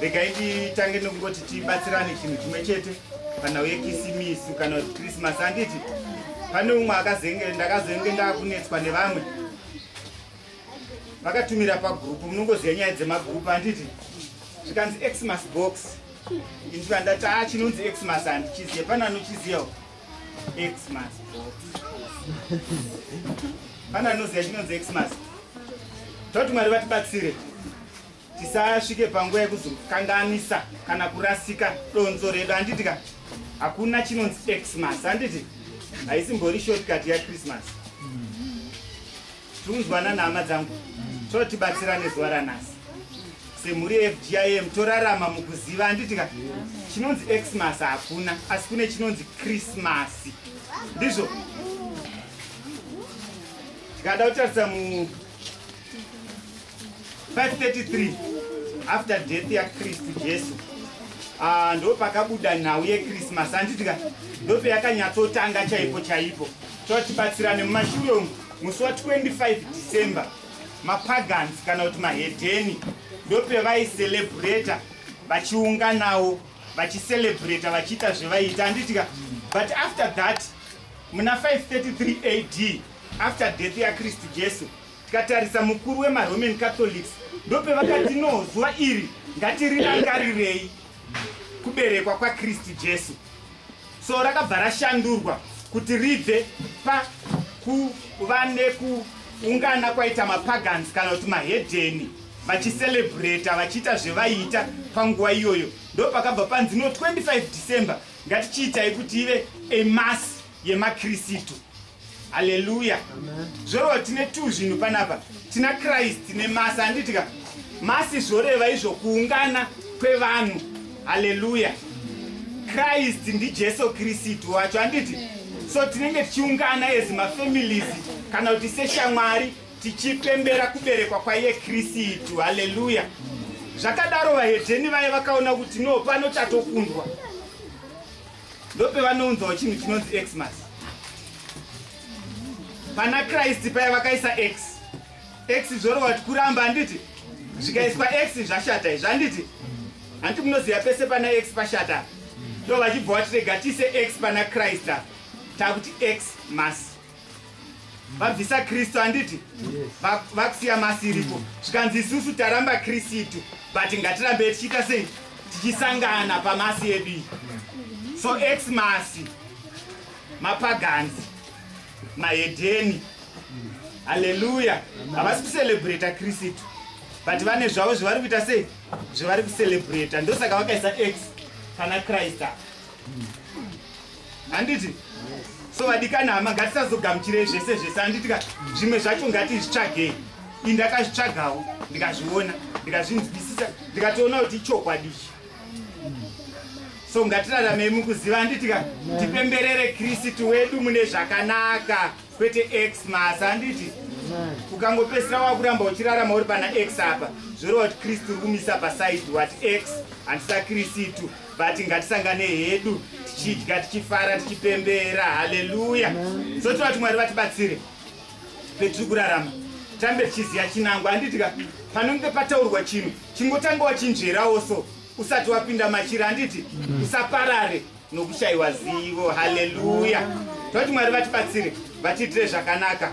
regai titange nekungoti tibatsirane chinhu chimwe chete panhau yekisimisi kana kuti krismas handiti pane umwe akazenge ndakazenge ndakunetswa nevamwe vakatumira pagrupu munongoziva nyaya dzemagrupu handiti zvikanzi xmas box indikandati a ah, chinonzi xmas handichiziva pane anochiziva xmas box pane anoziva chinonzi xmas toti mwari vatibatsire tisasvike panguva yekuzokanganisa kana kurasika donzo redu handiti ka hakuna chinonzi xmas handiti haisimbori shortcut yachristmas tiunzwana nhama dzangu totibatsira nezuva ranhasi semhuri yefgim torarama mukuziva handiti ka chinonzi xmas hakuna asi kune chinonzi krismasi ndizvo tikada kutarisa mu 533 after death yakristu jesu ah, ndo pakabuda nhau yekrismas anditika ndo peyakanyatsotanga chaipo chaipo totibatsirane mumashure umu musi wa 25 december mapagans kana kuti mahedheni ndo pevaiceleburator vachiunganawo vachiselebrata vachiita zvevaiita anditika but after that muna 533 ad after death yakristu jesu Tikatarisa mukuru wemaRoman Catholics ndopevakati no zuva iri ngatirirangarirei kuberekwa kwaKristu Jesu. So rakabva rashandurwa kuti ribve pakuva nekuungana kwaita mapagans kana kuti mahedheni vachiselebrata vachiita zvevaiita panguva iyoyo ndopakabva panzi no 25 December ngatichiitai kuti ive a mass yemakrisitu haleluya zvoreva tine two zvinhu panapa tina kristu nemasi handitika masi zvoreva izvo kuungana kwevanhu haleluya kristu ndijesu kristu wacho handiti so tinenge tichiungana as mafamilies kana kuti seshamwari tichipembera kuberekwa kwaiye kristu haleluya zvakadaro vahedheni vaye vakaona kuti no pano chatokundwa ndopevanounzawo chinhu chinonzi xmas pana kristu paya vakaisa x x zvorova ti kuramba handiti zvikaiswa x zvashata izvi handiti hanti munoziva pese pana x pashata ndo vachibva vatirega tiise x pana kristu takuti x mas vabvisa kristu handiti vakusiya masi iripo zvikanzi isusu taramba kristu but ngatirambe tichiita sei tichisangana pamasi yedu iyi so ex masi mapaganzi mahedheni haleluya havasi kucelebrata kristu but vane zvavo zvavari kuita sei zvavari kucelebrata ndosaka vakaisa ex pana krista handiti so vadikana hama ngatisazogamuchirei zvese zvese handiti ka zvimwe zvacho ngatizvitsvagei i ndakazvitsvagawo ndikazviona ndikazvinzwisisa ndikatoona kuti ichokwadi so ngatiraramei mukuziva handiti ka tipemberere kristu wedu mune zvakanaka kwete x masa handiti ukangopesira wakuramba uchirarama uri pana x apa zvoreva kuti kristu uri kumisa pasaidi wati x handisa kristu but ngatisangane hedu tichidya tichifara tichipembera haleluya so tivati mwari vatibatsire petiri kurarama tambe tichiziva chinango handitika panenge pataurwa chinhu chingotanga wachinzverawo so usati wapinda machira handiti mm. usaparare nokushayiwa zivo haleluya toti mwari vatibatsire vatiitire zvakanaka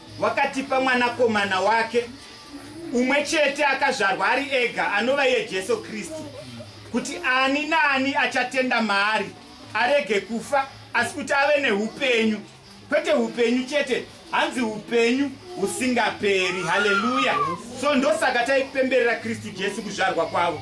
Wakatipa mwanakomana wake umwe chete akazvarwa ari ega anova iye Jesu Kristu kuti ani naani achatenda maari arege kufa asi kuti ave neupenyu kwete upenyu chete hanzi upenyu husingaperi haleluya so ndosaka taipemberera kristu jesu kuzvarwa kwavo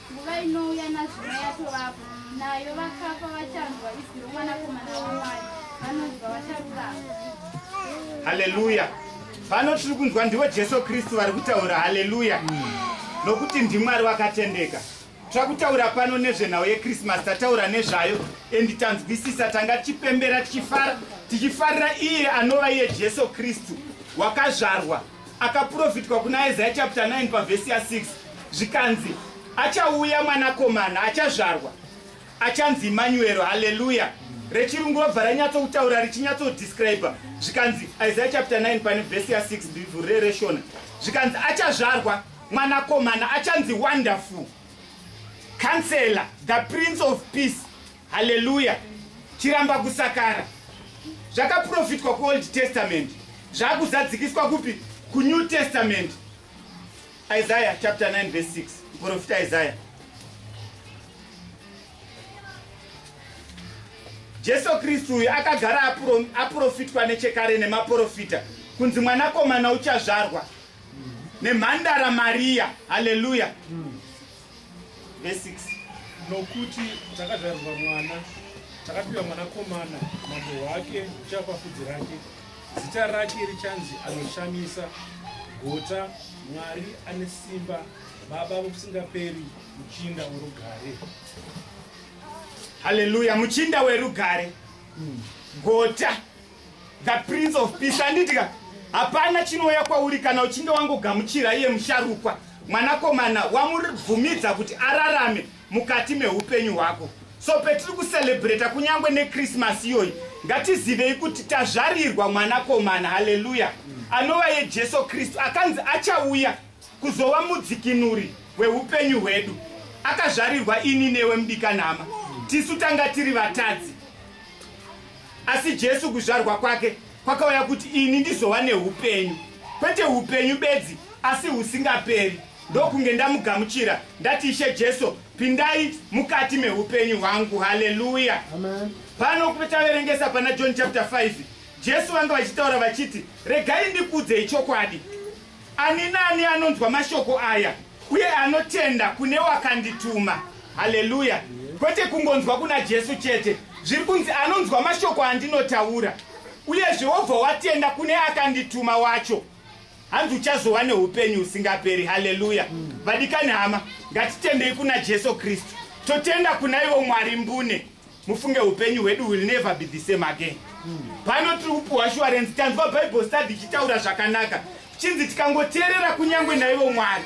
Nguva inouya nazvino yatovapo, nayo vakafa vachanzwa izwi romwanakomana waMwari, vanonzwa vacharurama. Haleluya! Pano tiri kunzwa ndivo Jesu Kristu vari kutaura. Haleluya! Nokuti ndiMwari wakatendeka. Tira kutaura pano nezvenhau yekrisimasi tataura nezvayo endi tanzwisisa tanga tichipembera tichifara tichifarira iye anova iye jesu kristu wakazvarwa akaprofitwa kuna Isaiah chapter 9 pavhesi ya6 zvikanzi achauya mwanakomana achazvarwa achanzi Emmanuel haleluya rechirungu vabva ranyatsoutaura richinyatsodescribe zvikanzi Isaiah chapter 9 pane vhesi ya6 bivhurire reshona zvikanzi achazvarwa mwanakomana achanzi wonderful counselor the prince of peace haleluya chiramba kusakara zvakaprofitwa kuold testament zvakuzadzikiswa kupi kunew testament isaya chapter 9 verse 6 muprofita isaya jesu kristu uyu akagara aprofitwa nechekare nemaprofita kunzi mwanakomana uchazvarwa nemhandara mariya haleluya mm. Verse 6. Nokuti takazvarirwa mwana, takapiwa mwanakomana, mambo wake uchava pafudzi rake. Zita rake richanzi anoshamisa, gota, Mwari ane simba, baba vokusingaperi, muchinda worugare. Haleluya, muchinda werugare, gota, the prince of peace andidya hapana chinouya kwauri kana uchinge wangogamuchira iye musharukwa mwanakomana wamubvumidza kuti ararame mukati meupenyu hwako so petiri kucelebrata kunyange nekrismas iyoyi ngatizivei kuti tazvarirwa mwanakomana haleluya anova yejesu kristu akanzi achauya kuzova mudzikinuri weupenyu hwedu akazvarirwa ini newe mudikanhama tisu tanga tiri vatadzi Asi Jesu kuzvarwa kwake kwakauya kuti ini ndizova neupenyu, kwete upenyu bedzi, asi husingaperi, ndokunge ndamugamuchira ndati, Ishe Jesu, pindai mukati meupenyu hwangu. Haleluya! Pano taverengesa pana John chapter 5 Jesu vanga vachitaura vachiti, regai ndikuudzei chokwadi, ani naani anonzwa mashoko aya uye anotenda kune wakandituma haleluya kwete kungonzwa kuna jesu chete zviri kunzi anonzwa mashoko andinotaura uyezve wobva watenda kune akandituma wacho hanzi uchazova neupenyu husingaperi haleluya vadikani hama ngatitendei kuna jesu kristu totenda kuna ivo mwari mbune mufunge upenyu hwedu will never be the same again pano tiri kupiwa shuwarensi tanzwa bible study ichitaura zvakanaka chinzi tikangoteerera kunyange naivo mwari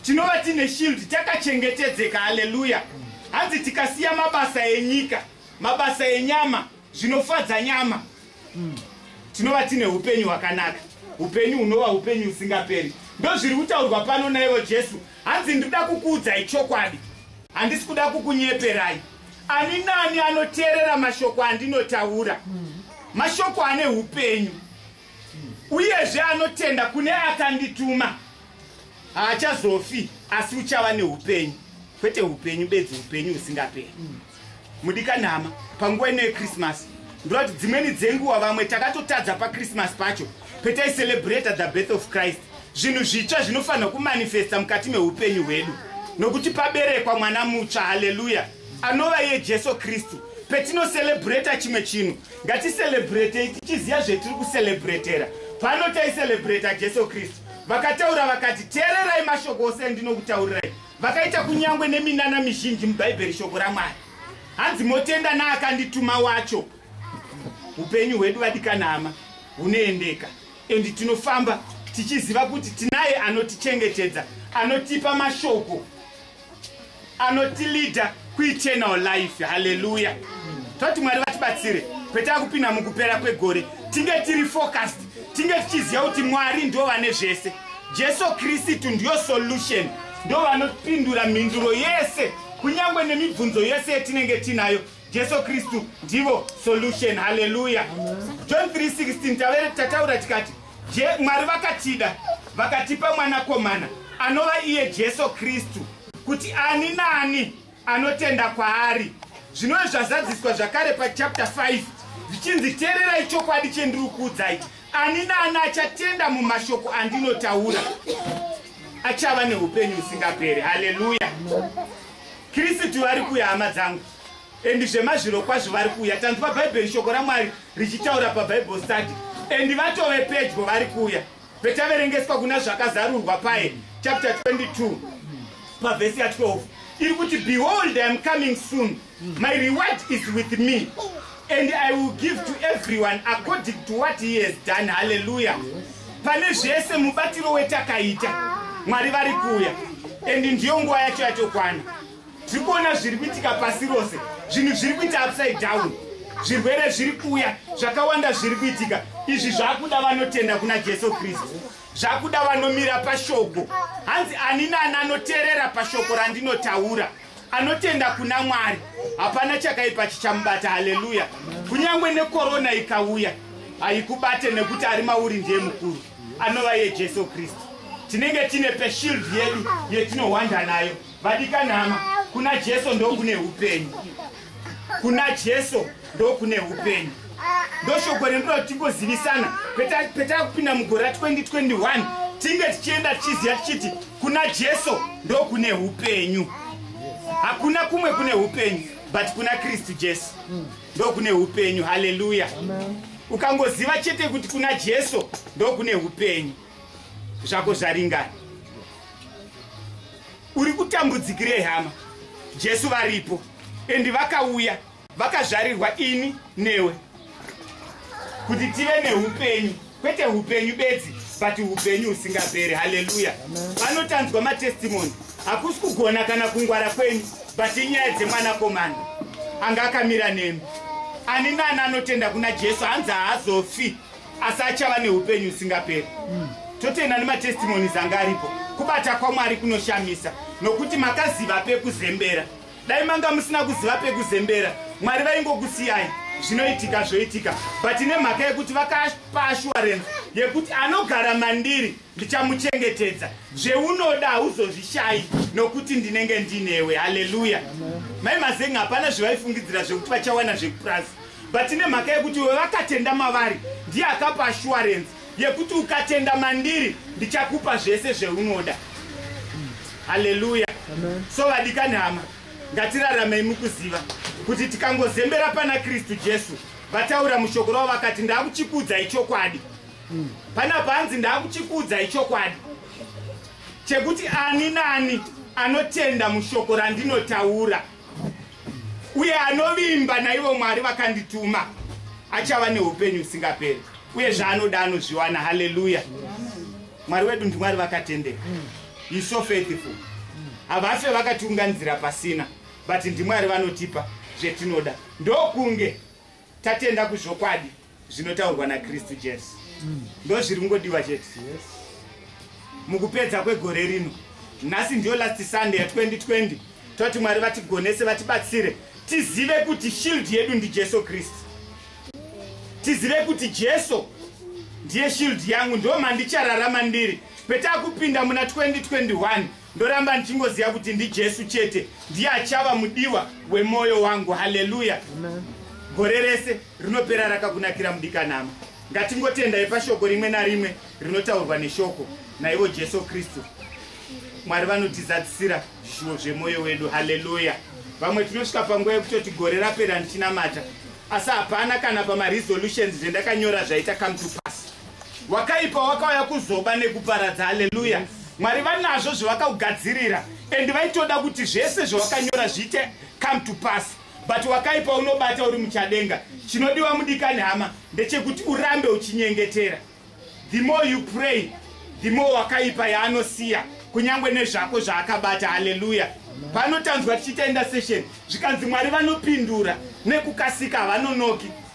tinova tiine shield takachengetedzeka haleluya hanzi tikasiya mabasa enyika mabasa enyama zvinofadza nyama tinova tiine upenyu hwakanaka upenyu hunova upenyu husingaperi ndozviri kutaurwa pano naivo jesu hanzi ndinoda kukuudzai chokwadi handisi kuda kukunyeperai ani nani anoteerera mashoko andinotaura hmm. mashoko ane upenyu uyezve anotenda kune akandituma haachazofi asi uchava neupenyu kwete upenyu bedzi upenyu husingaperi hmm. Mudikanhama, panguva ino yeChristmas, ndorati dzimweni dzenguva vamwe takatotadza paChristmas pacho petaicelebhreta the birth of Christ zvinhu zvitsva zvinofanirwa kumanifesta mukati meupenyu hwedu nokuti paberekwa mwana mutsva haleluya anova iye jesu kristu petinoselebhureta chimwe chinhu ngatiselebhuretei tichiziva zvetiri kuselebhuretera pano taiselebhureta jesu kristu vakataura vakati teererai mashoko ose endinokutaurirai Vakaita kunyangwe neminana mizhinji muBhaibheri shoko raMwari. Hanzi motenda naakandituma wacho. Upenyu hwedu vadikanama hunoendeka and tinofamba tichiziva kuti tinaye anotichengetedza, anotipa mashoko, anotilida kueternal life haleluya toti mwari vatibatsire kwete akupinda mukupera kwegore tinge tiri focused tinge tichiziva kuti mwari ndo vane zvese jesu kristu ndiyo solution ndo vanopindura mhinduro yese kunyange nemibvunzo yese yetinenge tinayo jesu kristu ndivo solution haleluya john 316 tavere tataura tikati Je, Mwari vakatida vakatipa mwanakomana anova iye Jesu Kristu kuti ani naani anotenda kwaari. Zvinove zvazadziswa zvakare pachapter 5 zvichinzi teererai chokwadi chendiri kuudzai ani naani achatenda mumashoko andinotaura achava neupenyu husingaperi. Haleluya! Kristu vari kuya hama dzangu. and zvemazvirokwazvo vari kuuya tanzwa bhaibheri shoko ramwari richitaura pabible study and vatove pedyo vari kuuya petaverengeswa kuna zvakazarurwa paye chapter 22 pavhesi ya 12 iri kuti behold iam coming soon my reward is with me and i will give to everyone according to what he has done halleluya pane zvese mubatiro wetakaita mwari vari kuuya and ndiyo nguva yacho yatokwana tiri kuona zviri kuitika pasi rose zvinhu zviri kuita upside down zvirwere zviri kuuya zvakawanda zviri kuitika izvi zvakuda vanotenda kuna jesu kristu zvakuda vanomira pashoko hanzi ani nani anoteerera pashoko randinotaura anotenda kuna mwari hapana chakaipa chichamubata haleluya kunyange nekorona ikauya haikubate nekuti ari mauri ndiye mukuru anova yejesu kristu tinenge tine peshield yedu yetinohwanda nayo vadikanhama kuna jesu ndokune upenyu kuna jesu ndokune upenyu ndoshoko rendoda kuti tingozivisana petava kupinda mugore ra 2021 tinge tichienda tichiziva tichiti kuna jesu ndokune upenyu hakuna kumwe kune upenyu but kuna kristu jesu ndokune upenyu haleluya ukangoziva chete kuti kuna jesu ndokune upenyu zvako zvaringana uri kutambudzikirei hama jesu varipo endi vakauya vakazvarirwa ini newe kuti tive neupenyu kwete upenyu bedzi but upenyu husingaperi haleluya vanotanzwa matestimoni hakusi kugona kana kungwara kwenyu but inyaya dzemwanakomana anga akamira nemi ani nani anotenda kuna jesu hanzi haazofi asi achava neupenyu usingaperi mm. totenda nematestimonies anga aripo kubata kwamwari kunoshamisa nokuti makaziva pekuzembera dai manga musina kuziva pekuzembera mwari vaingokusiyai zvinoitika zvoitika but nemhaka yekuti vakapa assurance yekuti anogara mandiri ndichamuchengetedza zveunoda hauzozvishayi nokuti ndinenge ndinewe haleluya mai mazenga hapana zvevaifungidzira zvekuti vachawana zvekupurazi but nemhaka yekuti iwe vakatenda mavari ndiye akapa assurance yekuti ukatenda mandiri ndichakupa zvese zveunoda haleluya so vadikani hama ngatiraramei mukuziva kuti tikangozembera pana kristu jesu vataura mushoko ravo vakati ndakuchikudza ichokwadi pana panzi ndakuchikudza ichokwadi chekuti ani naani anotenda mushoko randinotaura uye anovimba naivo mwari vakandituma achava neupenyu usingaperi uye zvaanoda anozviwana haleluya mwari wedu ndimwari vakatendeka iso faithful havafe vakatiunganidzira pasina but ndimwari vanotipa zvetinoda ndokunge tatenda kuzvokwadi zvinotaurwa nakristu jesu ndo zviri kungodiwa chete mukupedza kwegore rino nhasi ndiyo last sunday ya 2020 toti mwari vatigonese vatibatsire tizive kuti shield yedu ndi jesu kristu tizive kuti jesu ndiye shield yangu ndo mandichararama ndiri petakupinda muna 2021 Ndoramba ndichingoziva kuti ndiJesu chete ndiye achava mudiwa wemoyo wangu. Haleluya! Gore rese rinopera rakakunakira mudikanama. Ngatingotendai pashoko rimwe narimwe rinotaurwa neshoko naivo Jesu Kristu. Mwari vanotizadzisira zvishuwo zvemoyo wedu. Haleluya! Vamwe tinosvika panguva yekutoti gore rapera ndichinamata, asi hapana kana pamaresolutions zvendakanyora zvaita come to pass. wakaipa wakauya kuzoba nekuparadza haleluya mwari vanazvo zvavakaugadzirira and vaitoda kuti zvese zvavakanyora zviite come to pass but wakaipa unobata uri muchadenga chinodiwa mudikani hama ndechekuti urambe uchinyengetera the more you pray the more wakaipa yaanosiya kunyange nezvako zvaakabata haleluya panotanzwa tichiita indasation zvikanzi mwari vanopindura nekukasika havanonoki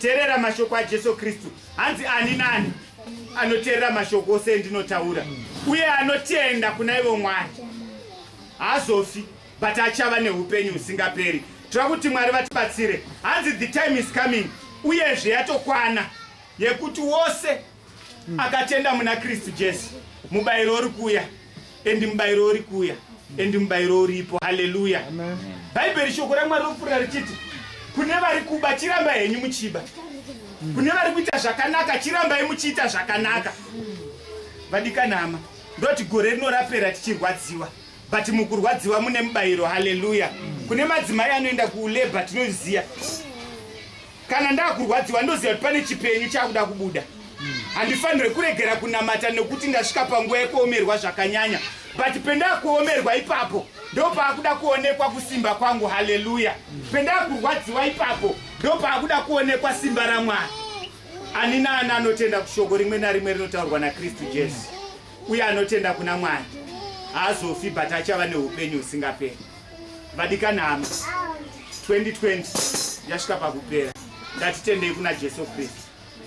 Terera mashoko aJesu Kristu. Hanzi ani nani anoterera mashoko ose endinotaura uye anotenda kuna ivo Mwari haazofi but achava neupenyu husingaperi. Tira kuti Mwari vatibatsire. Hanzi the time is coming uyezve yatokwana yekuti wose akatenda muna kristu jesu mubayiro uri kuuya endi mubayiro uri kuuya endi mubayiro uripo haleluya bhaibheri shoko ramwari ropfuura richiti kune vari kuba chiramba henyu muchiba kune vari kuita zvakanaka chirambai muchiita zvakanaka vadikanama ndoti gore rino rapera tichirwadziwa but mukurwadziwa mune mubayiro haleluya kune madzimai anoenda kulabor tinoziva kana ndakurwadziwa ndoziva kuti pane chipenyu chakuda kubuda handifanire kuregera kunamata nekuti ndasvika panguva yekuomerwa zvakanyanya but pendakuomerwa ipapo ndopaakuda kuonekwa kusimba kwangu haleluya pendakurwadziwa ipapo ndopaakuda kuonekwa simba ramwari ani naani anotenda kushoko rimwe narimwe rinotaurwa nakristu jesu uye anotenda kuna mwari haazofi but achava neupenyu husingaperi vadikanama 2020 yasvika pakupera ngatitendei kuna jesu kristu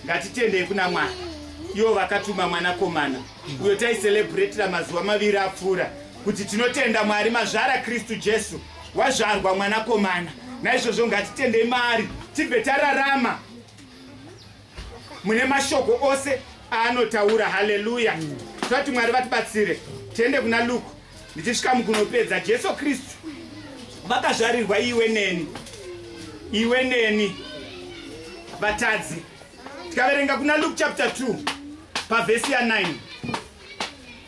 ngatitendei kuna mwari ivo vakatuma mwanakomana uyo taicelebratira mazuva maviri apfuura kuti tinotenda mwari mazvara kristu jesu wazvarwa mwanakomana naizvozvo ngatitendei maari tibve tararama mune mashoko ose aanotaura haleluya tati mwari vatibatsire tiende kuna luku ndichisvika mukunopedza jesu kristu vakazvarirwa iwe neni iwe neni vatadzi tikaverenga kuna luke chapter 2 pavhesi ya 9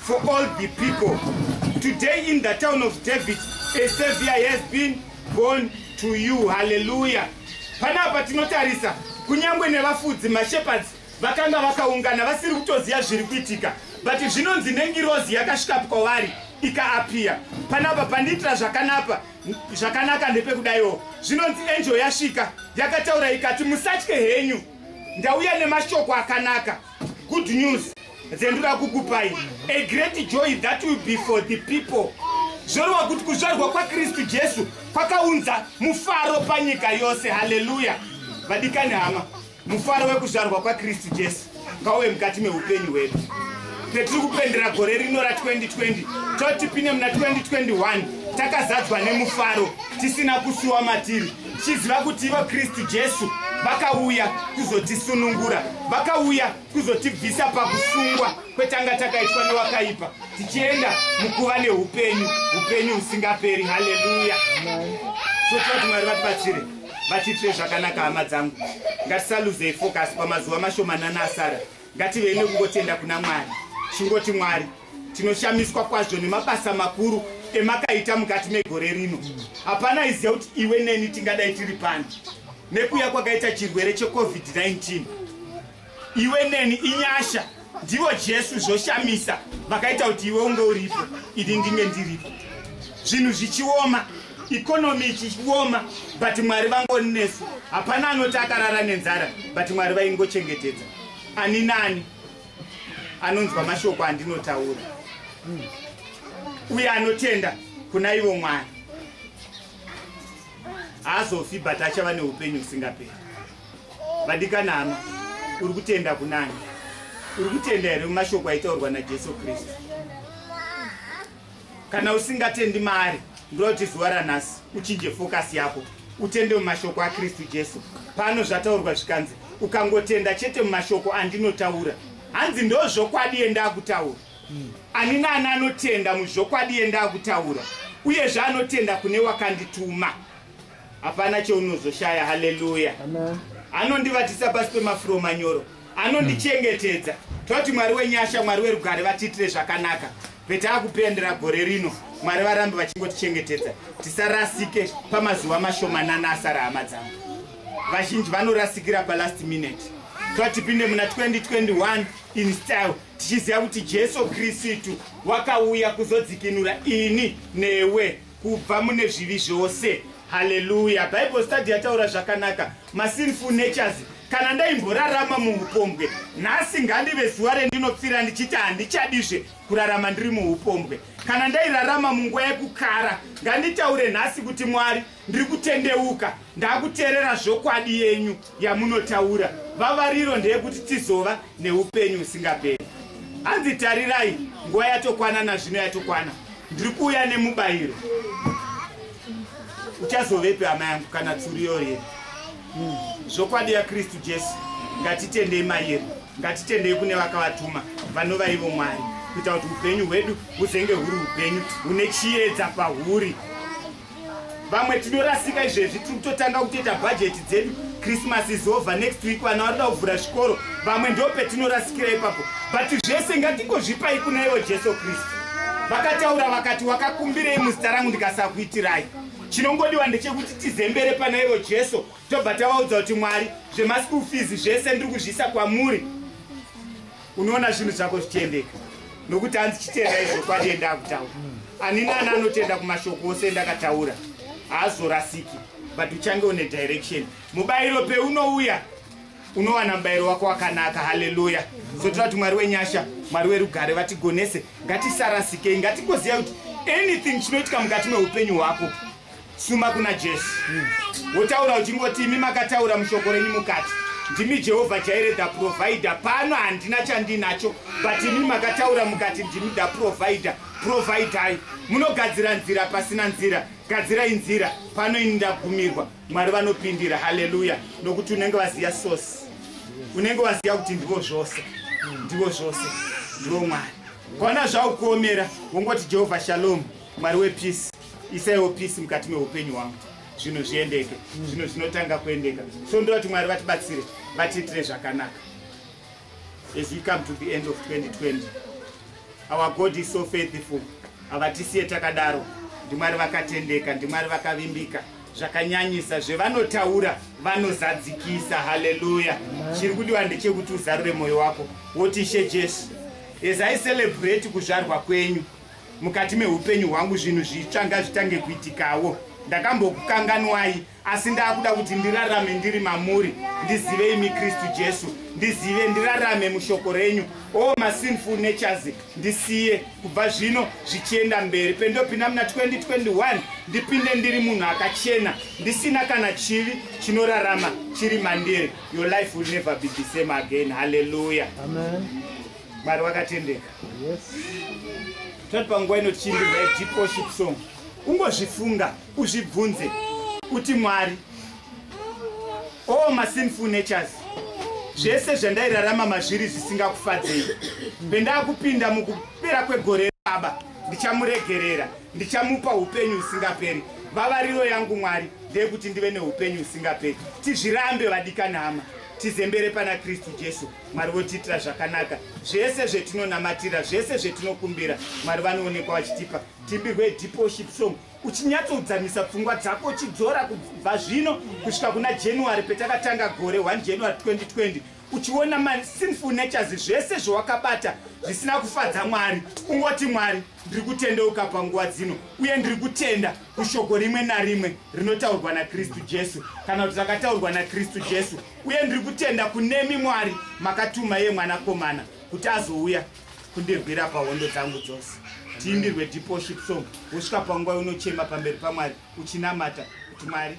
for all the people today in the town of david a savior has been born to you haleluya panapa tinotarisa kunyange nevafudzi mashepherds vakanga vakaungana vasiri kutoziva zviri kuitika but zvinonzi nengirozi yakasvika kwavari ikaapiya panapa pandiitira zvakanapa zvakanaka ndepekudaiwo zvinonzi enjo yasvika yakataura ikati musatye henyu ndauya nemashoko akanaka good news dzendura kukupai a great joy that will be for the people zvoreva kuti kuzvarwa kwakristu jesu kwakaunza mufaro panyika yose haleluya vadikani hama mufaro wekuzvarwa kwakristu jesu ngauve mukati meupenyu hwedu petiri kupendera gore rino ra 2020 toti pine muna 2021 takazadzwa nemufaro tisina kusuwa matiri tichiziva kuti ivo kristu jesu vakauya kuzotisunungura vakauya kuzotibvisa pakusungwa kwetanga takaitwa newakaipa tichienda mukuva neupenyu upenyu husingaperi haleluya sotiva kuti mwari vatibatsire vatiitire zvakanaka hama dzangu ngatisaluzei focus pamazuva mashomanana asara ngativei nekungotenda kuna mwari chingoti mwari tinoshamiswa kwazvo nemabasa makuru emakaita mukati megore rino hapana iziva kuti iwe neni tingadai tiri pani nekuya kwakaita chirwere checovid-19 iwe neni inyasha ndivo jesu zvoshamisa vakaita kuti iwe unge uripo ini ndinge ndiripo zvinhu zvichioma ikonomi ichioma but mwari vangoni nesu hapana anoti akarara nenzara but mwari vaingochengetedza ani nani anonzwa mashoko andinotaura uye anotenda kuna ivo mwari haazofi but achava neupenyu husingaperi vadikana hama uri kutenda kunani uri kutenda here mumashoko aitaurwa najesu kristu kana usingatendi maari ndoda kuti zuva ranhasi uchinje fokasi yako utende mumashoko akristu jesu pano zvataurwa zvikanzi ukangotenda chete mumashoko andinotaura hanzi ndo zvokwadi yendakutaura hmm. ani naani anotenda muzvokwadi yendakutaura uyezve anotenda kune wakandituma hapana cheunozoshaya haleluya anondivatisa pasi pemafuro manyoro anondichengetedza toti mwari wenyasha mwari werugare vatiitire zvakanaka petaa kupendera gore rino mwari varambe vachingotichengetedza tisarasike pamazuva mashomanana asara hama dzangu vazhinji vanorasikira palast minute toa tipinde muna 2021 in style tichiziva kuti jesu kristu wakauya kuzodzikinura ini newe kubva mune zvivi zvose haleluya bible study yataura zvakanaka masinful natures kana ndaimborarama muupombwe nhasi ngandive zuva rendinopfira ndichiti handichadizve kurarama ndiri muupombwe kana ndairarama munguva yekukara nganditaure nhasi kuti mwari ndiri kutendeuka ndakuteerera zvokwadi yenyu yamunotaura vavariro ndeyekuti tizova neupenyu usingaperi hanzi tarirai nguva yatokwana nazvino yatokwana ndiri kuuya nemubayiro uchazovepi hama yangu kana tsuri yoye hmm. zvokwadi yakristu jesu ngatitendei mayeri ngatitendei kune vakavatuma vanova ivo mwari kuita kuti upenyu hwedu huzenge huri upenyu hune chiyedza pahuri vamwe tinorasika izvezvi tiri kutotanga kutoita bhajeti dzedu christmas is over next week vana varida kuvhura zvikoro vamwe ndo petinorasikira ipapo but zvese ngatingozvipai kuna iwo jesu kristu vakataura vakati wakakumbirei muzita rangu ndikasakuitirai chinongodiwa ndechekuti tizembere pana iwo jesu tobva tavaudza kuti mwari zvemaschool fees zvese ndiri kuzviisa kwamuri unoona zvinhu zvako zvichiendeka nokuti hanzi chitenda izvo kwadi endakutaura ani nani anotenda kumashoko ose endakataura haazorasiki but uchange une direction mubayiro peunouya unowana mubayiro wako wakanaka haleluya zotoda kuti mwari wenyasha mwari werugare vatigonese ngatisarasikei ngatigoziva kuti anything chinoitika mukati meupenyu hwako suma kuna jesu wotaura uchingoti imi makataura mushoko renyu mukati ndimi jehovha jaire the provider pano handina chandinacho but imi makataura mukati ndimi the provider providai munogadzira nzira pasina nzira gadzirai nzira pano ini ndagumirwa mwari vanopindira haleluya nokuti unenge vaziva sosi unenge waziva kuti ndivo zvose ndivo zvose ndivo mwari kwana zvaukuomera wongoti jehovha shalom mwari wepeace isaiwo peace mukati meupenyu hwangu zvinhu zviendeke zvinhu zvinotanga kuendeka so ndoda kuti mwari vatibatsire vatiitire zvakanaka as we come to the end of 2020 our god is so faithful havatisiye takadaro ndimwari vakatendeka ndimwari vakavimbika zvakanyanyisa zvevanotaura vanozadzikisa haleluya chiri kudiwa ndechekuti uzarure mwoyo wako woti ishe jesu as i celebrate kuzvarwa kwenyu mukati meupenyu hwangu zvinhu zvitsva ngazvitange kuitikawo ndakambokukanganwai asi ndakuda kuti ndirarame ndiri mamuri ndizive imi kristu jesu ndizive ndirarame mushoko renyu o oh, masinful natures ndisiye kubva zvino zvichienda mberi pendopinda muna 2021 ndipinde ndiri munhu akachena ndisina kana chivi chinorarama chiri mandiri your life will never be the same again halleluya Amen. mwari wakatendeka tati panguva ino tichiimbirwa yedeep worship song ungozvifunga uzvibvunze kuti mwari all masinful natures zvese zvandairarama mazviri zvisingakufadzei pendakupinda mukupera kwegore baba ndichamuregerera ndichamupa upenyu husingaperi vavariro yangu mwari ndeyekuti ndive neupenyu husingaperi tizvirambe vadikani hama tizembere pana kristu jesu mwari votiitira zvakanaka zvese zvetinonamatira zvese zvetinokumbira mwari vanoonekwa vachitipa timbirwe depoship song uchinyatsodzamisa pfungwa dzako uchidzora kubva zvino kusvika kuna january petakatanga gore 1 january 2020 uchiona masinful natures zvese zvawakabata zvisina kufadza mwari ungoti mwari ndiri kutendeuka panguva dzino uye ndiri kutenda kushoko rimwe narimwe rinotaurwa nakristu jesu kana kuti rakataurwa nakristu jesu uye ndiri kutenda kunemi mwari makatuma iye mwanakomana kuti azouya kundirwira pahondo dzangu dzose tiimbirwe depoship song wosvika panguva unochema pamberi pamwari uchinamata kuti mwari